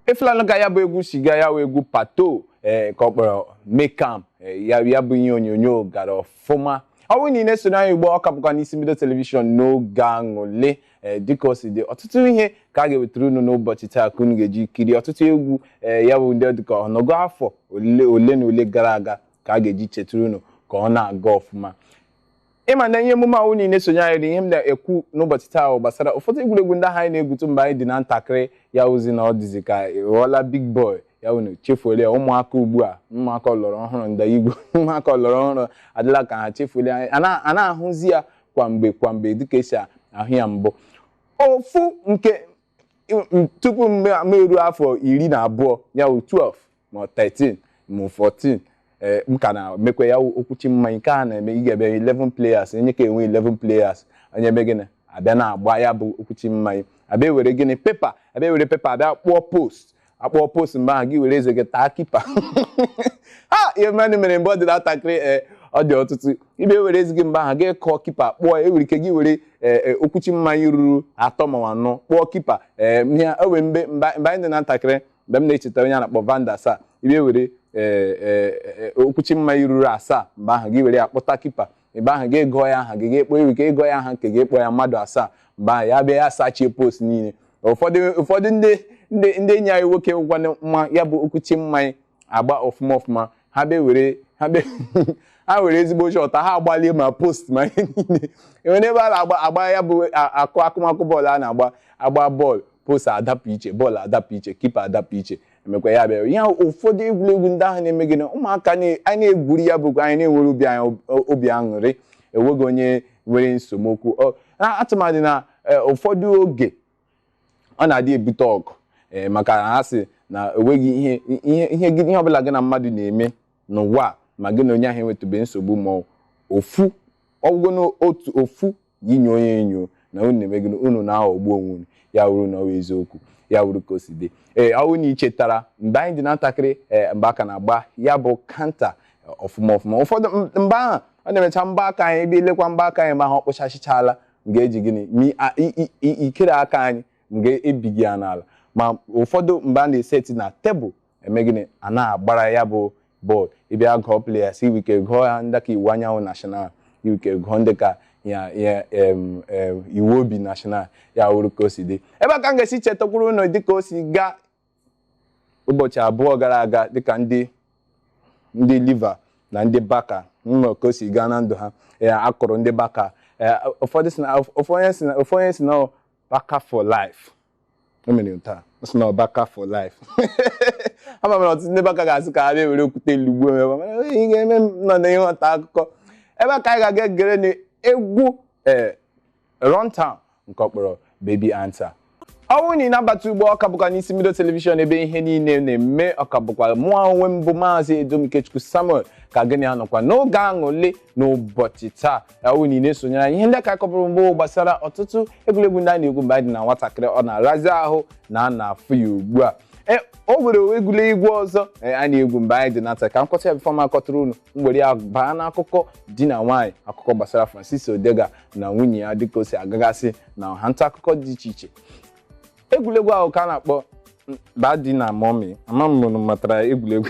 ị fụlanụ ka ya bụ egwu si gaa ya wụ egwu pato ee ka ọ kpọrọ mekam ee, ya ya bụ ihe onyonyo gara ọfụma ọ bụrụ na ị na-esoro anyị ugbu a ọ ka bụkwa n'Isi Mbido telivishọn n'oge aṅụlị ee dịka o si dị ọtụtụ ihe ka a ga-ewetara unu n'ụbọchị taa ka unu ga-eji kiri ọtụtụ egwu ee ya bụ ndị dịka ọnụọgụ afọ ole ole na ole gara aga ka a ga-eji chetara unu ka ọ na-aga ọfụma ị ma na ihe emume ahụ niile sonye anyị na ihe m na-ekwu n'ụbọchị taa ahụ gbasara ụfọdụ egwuregwu ndị ahụ anyị na-egwutu mgbe anyị dị na ntakịrị ya wụzi na ọ dịzi ka ị ghọọla big boy ya wụ na ị chefuola ya ụmụaka ugbu a ụmụaka ọlọrọ ọhụrụ ndị Igbo ụmụaka ọlọrọ ọhụrụ adịla ka ha chefuola ya a na- anaghị ahụzi ya kwa mgbe kwa mgbe dịka e si ahụ ya mbụ ofu nke m- tupu m m eruo afọ iri na abụọ ya wụ 12 ma 13 ma 14 ee m ka na-emekwa ya okwuchi mmanya nke a na-eme ị ga-enwe 11 players onye nke a enwe 11 players unu eme gịnị a bịa na-agba ya bụ okwuchi mmanya a bịa were gịnị pepa a bịa were pepa a bịa kpụọ post a kpụọ post mgbe ahụ gị were eze gị taa kipa ha ihe mmadụ mere mgbe ọ dị ntakịrị ee ọ dị ọtụtụ ị bịa were eze gị mgbe ahụ gị kpụọ kipa kpụọ e nwere ike gị were okwuchi mmanya ruru atọ ma anọ kpụọ kipa ee ihe ọ wụ mgbe mgbe anyị dị na ntakịrị mgbe m na-echeta onye a na-akpọ Van der Sar ị bịa were ee, ee, ee, okwuchi mmanya ruru asaa mgbe ahụ gị were ya kpụta kipa mgbe ahụ gị gụọ ya aha gị gị kpọọ iru gị gụọ ya aha nke gị kpọọ ya mmadụ asaa mgbe ahụ ya bịa ya sachie post niile ụfọdụ ụfọdụ ndị ndị ndị enyi anyị nwoke ngwanụ ma ya bụ okwuchi mmanya agba ọfụma ọfụma ha bịa were ha bịa ha were ezigbo shọt ha agbalie ma post ma ihe niile e nwere ebe a na-agba agba ya bụ a- akụ akụmakụ bọọlụ a na-agba agba bọọlụ post adapụ iche bọọlụ adapụ iche kipa adapụ iche emekwa ya bịara ihe ahụ ụfọdụ egwuregwu ndị ahụ na-eme gịnị ụmụaka na- a na-egwuri ya bụkwa anyị na-enwere obi anyị ob- obi aṅụrị enweghị onye nwere esemokwu Ọ- na- atụmadị na eh, ụfọdụ oge ọ na-adị ebute ọgụ eh, maka na ha sị na enweghị ihe ihe ihe gị- ihe ọbụla gị na mmadụ na-eme n'ụwa a, ma gị na onye ahụ enwetụbe nsogbu ma ọ- ofu ọgwụgo n'otu ofu gị nye onye enyo na unu na-eme gịnị unu na-aghọgbu onwe unu ya wụrụ na ọ bụ eziokwu ya wụrụ ka o si dị ee ọ bụrụ na ị chetara mgbe anyị dị na ntakịrị ee mgbe a ka na-agba ya bụ kanta ọfụma ọfụma ụfọdụ m- mgbe ahụ ọ na-emecha mbọ aka anyị ị bịa lekwa mbọ aka anyị ma ha ọ kpụchachichala m ga-eji gịnị mi a- i- i- i- ikiri aka anyị m ga-ebi gị ya n'ala ma ụfọdụ mgbe a na-eseti na tebụl eme gịnị a na-agbara ya bụ bọọlụ ị bịa gụọ players i nwere ike gụọ ya ndị ka Iwuanyanwụ National i nwere ike gụọ ndị ka ya ya em, em, iwu obi national ya wụrụ ka o si dị ebe a ka m ga-esi chetakwuru unu dịka o si gaa ụbọchị abụọ gara aga dịka ndị ndị Liver na ndị Barca mma ka o si gaa na ndụ ha ee a kụrụ ndị Barca ee ụfọdụ sị na ofu onye sị na ofu onye sị na ọ Barca for life o mere m taa ọ sị na ọ Barca for life ama m na ọtụtụ ndị Barca ga-asị ka ha bịa were okwute lugbuo m ebe a. Mana ị ga-eme m nọ na ịghọta akụkọ ebe a ka anyị ga-aga gere nụ egwu ee Runtown nke ọ kpọrọ Baby Answer. ọ bụrụ na ị na-abata ugbu a ọ ka bụkwa n'isi mbido telivishọn ebe ihe niile na-eme ọ ka bụkwa mụ onwe m bụ maazị Edom Ikechukwu Samuel ka gị na ya nọkwa n'oge aṅụrị n'ụbọchị taa ọ wụ na ị na-esonyere anyị ihe ndị ka a kọpụrụ mbụ gbasara ọtụtụ egwuregwu ndị a na-egwu mgbe anyị dị na nwatakịrị ọ na-arazi ahụ na a na-afụ ya ugbu a e o nwere egwuregwu ọzọ e, a na-egwu mgbe anyị dị na nwata ka m kọta ya bifọ m akọtụrụ unu mgbere ya baa n'akụkọ di na nwaanyị akụkọ gbasara Francis Odega na nwunye ya dịka o si agagasị na ọha nta akụkọ dị iche iche egwuregwu ahụ ka a na-akpọ Daddy na Mommy ama m unu matara egwuregwu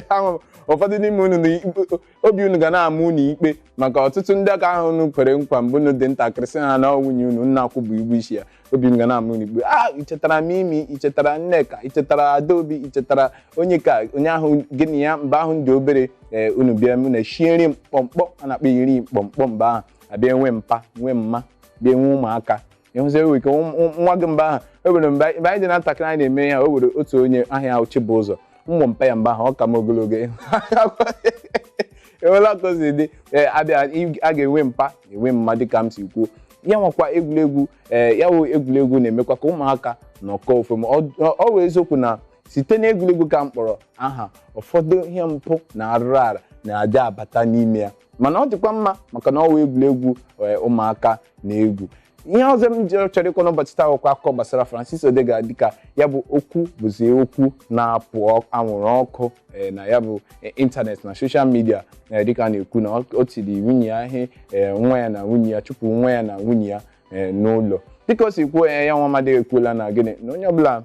Ama m, ụfọdụ n'ime unu na ikpe- obi unu ga na-ama unu ikpe maka ọtụtụ ndị nke ahụ unu kwere nkwa mgbe unu dị ntakịrị sị ha na ọ nwunye unu unu akwụbeghị ụgwọ isi ya obi unu ga na-ama unu ikpe i chetara Mimi i chetara Nneka i chetara Adaobi i chetara Onyeka onye ahụ gị na ya mgbe ahụ dị obere ee unu bịa na-eshie nri mkpọmkpọm a na-akpọ iri mkpọmkpọm mgbe ahụ a bịa enwe mpa nwee mma bịa enwe ụmụaka ịhụzi ewe ike nwa- nwa- nwa gị mgbe ahụ o nwere mgbe mgbe anyị dị na ntakịrị anyị na-eme ya o nwere otu onye aha ya wụ Chibụzọ m wụ mpa ya mgbe ahụ ọ ka m ogologo o nwela ka o si dị ee a bịa ị- a ga-enwe mpa enwe mma dịka m si kwuo ya wụkwa egwuregwu ee ya wụ egwuregwu na-emekwa ka ụmụaka nọkọọ ọfụma ọ- ọ ọ wụ eziokwu na site n'egwuregwu ka m kpọrọ aha ụfọdụ ihe mpụ na arụrụ ala na-adị abata n'ime ya mana ọ dịkwa mma maka na ọ wụ egwuregwu ee, ụmụaka na-egwu ihe ọzọ m chọrọ ịkọ n'ụbọchị taa wụkwa akụkọ gbasara Francis Odega dịka ya bụ okwu bụzi okwu na-apụ ọ- anwụrụ ọkụ ee, na ya bụ ee, ịntanetị na soshal midia ee dịka a na-ekwu na ọ- o tiri nwunye ya ihe ee nwa ya na nwunye ya chụpụ nwa ya na nwunye ya ee n'ụlọ dịka o si kwuo ya ya nwa amadị ekwuola na gịnị na onye ọbụla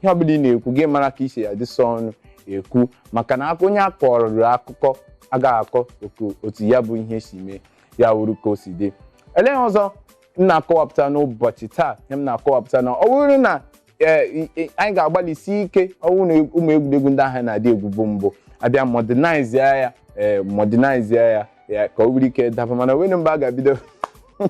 ihe ọbụla ị na-ekwu gị mara ka i si adịsa ọnụ ekwu maka na aka- onye a kọrọ akụkọ agaghị akọ oku- otu ya bụ ihe si mee ya wụrụ ka o si dị olee ihe ọzọ m na-akọwapụta n'ụbọchị taa ihe m na-akọwapụta na ọ bụrụ na ee, i- i- anyị ga-agbalịsi ike ọ bụrụ na ụmụ egwuregwu ndị ahụ a na-adị egwubu mbụ a bịa modernize ya ee modernize ya ya ka o nwere ike daba mana o nwere mgbe a ga-ebido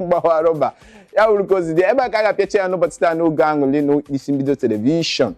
gbawa rọba ya wụrụ ka o si dị ebe a ka a ga-apịacha ya n'ụbọchị taa n'oge aṅụrị n'isi mbido telivishọn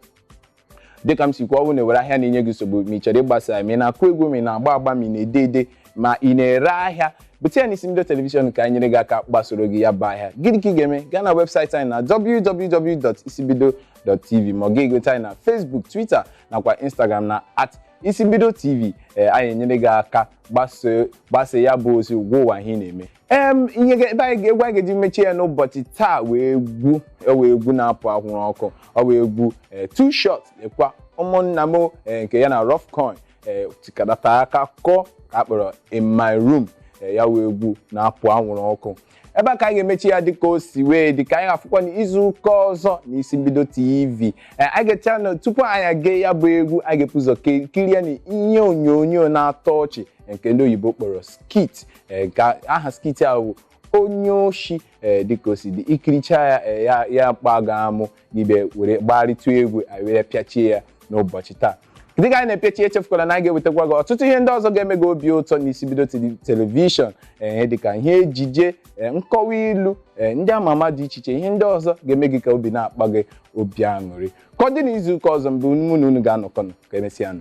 dịka m si kwuo ọ wụ na e nwere ahịa na-enye gị nsogbu ma ị chọrọ ịgbasa ya ma ị na-akụ egwu ma ị na-agba agba ma ị na-ede ede ma ị na-ere ahịa bute ya n'isi mbido telivishọn ka anyị nyere gị aka gbasoro gị ya bụ ahịa gịnị ka ị ga-eme gaa na webụsaịtị anyị na www.isimbido.tv ma ọ gị egote anyị na Facebook Twitter nakwa Instagram na at isimbido tv ee anyị enyere gị aka gbasoo gbasa ya bụ ozi gwa ụwa ihe ị na-eme em ihe ga- ebe anyị ga- egwu anyị ga-eji mechie ya n'ụbọchị taa wụ egwu ee wụ egwu na-apụ anwụrụ ọkụ ọ wụ egwu eh, 2Shotz lekwa ụmụnna m eh, nke ya na Ruffcoin eh, tikọtara aka kụọ ka a kpọrọ in my room eh, ya wụ egwu na-apụ anwụrụ ọkụ ebe a ka anyị ga-emechi ya dịka o si wee dị ka anyị ga-afụkwa n'izu ụka ọzọ n'isi mbido tv Eh, anyị ga-echa na tupu anyị aga ya bụ egwu anyị ga-ebu ụzọ ke- kirie na ihe onyonyo na-atọ ọchị nke ndị oyibo kpọrọ skit ee ka aha skit a bụ onye oshi ee dịka o si dị i kirichaa ya ee ya ya kpaa gị amụ n'ibe were gbagharịtụ egwu anyị were pịachie ya n'ụbọchị taa dịka anyị na-emechi echefukwala na anyị ga-ewetakwa gị ọtụtụ ihe ndị ọzọ ga-eme gị obi ụtọ n'isi mbido tele- telivishọn ee dịka ihe ejije ee, nkọwa ilu ee, ndị ama ama dị iche iche ihe ndị ọzọ ga-eme gị ka obi na-akpa gị obi aṅụrị ka ọ dị n'izu ụka ọzọ mgbe mụ na unu ga-anọkọ ọnụ ka e mesịa nụ